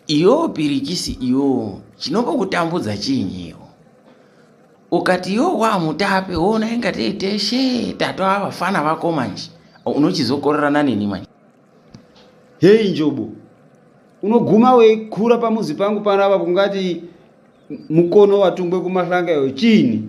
iyo pirikisi iyo chinombokutambudza chiinyiwo ukati iyo wamutape wona inga teiteshe tato avafana vako manje unochizokorerana neni manje heyi njobo unoguma weikura pamuzi pangu panapa kungati mukono watungwe kumahlanga iyo chiini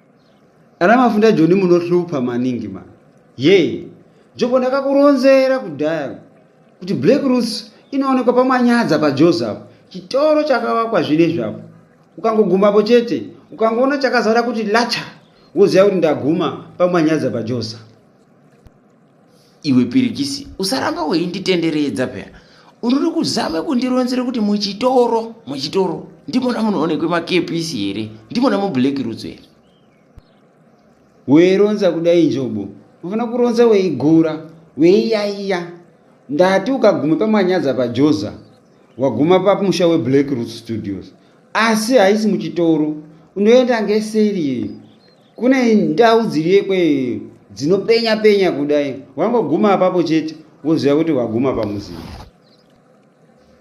Ana mafunda Joni munohlupa maningi ma. Yee. Joko ndakakuronzera kudhaya kuti Black Roots inoonekwa pamanyadza paJozi apo. Chitoro chakavakwa zvinezvi apo. Ukangogumapo chete, ukangoona chakazara kuti lacha, woziva kuti ndaguma pamanyadza paJozi. iwe pirikisi usaramba weinditenderedza peya unori kuzama kundironzera kuti muchitoro muchitoro ndimona munoonekwe makepisi here ndimona mublack roots here weironza kudai njobo unofanira kuronza weigura weiyaiya ndati ukaguma pamanyadza pajoza waguma pamusha weblack roots studios asi haisi muchitoro unoenda ngeseri kune ndau dziriyekwe eh, dzinopenya penya kudai wangoguma apapo chete woziva kuti waguma pamuzinda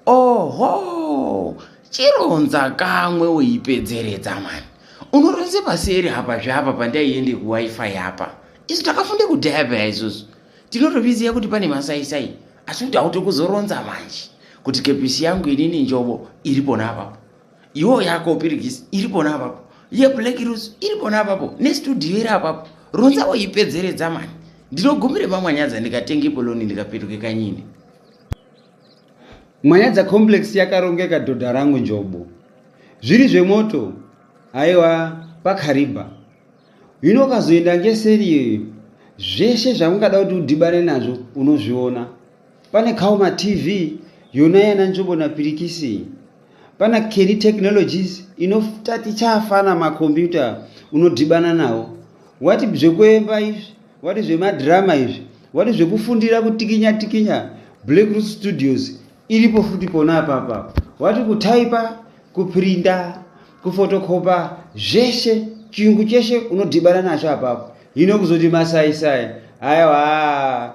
oho chironza kamwe uipedzeredza mani unoronze paseri apa zveapa pandaiende kuwifi apa isu takafunde kudhaya peya isusu tinotoviziva kuti pane masaisai asi kuti hauti kuzoronza manje kuti kepisi yangu inini njobo iri pona apapo iwo yako pirigisi iri pona apapo yeblack rose iri pona apapo nestudio iri apapo ronza woipedzeredza mani ndinogumire pamwanyadza ndikatenge poloni ndikapetuke kanyini mwanyadza complex yakarongeka dhodha rangu njobo zviri zvemoto aiwa pakariba hino ukazoenda ngeseri iyoyo zveshe zvamungada kuti udhibane nazvo unozviona Pana Kaoma TV yona yana nzvimbo na Pirikisi. Pana Kelly Technologies inotati chafana ma computer unodhibana nawo. Wati zvekuemba izvi, wati zvema drama izvi, wati zvekufundira kutikinya tikinya Black Root Studios iripo futi pona apapa. Wati kutaipa, kuprinda, kufotokopa zveshe chiyungu cheshe unodhibana nacho apapo. Hino kuzoti masai sai. Aiwa.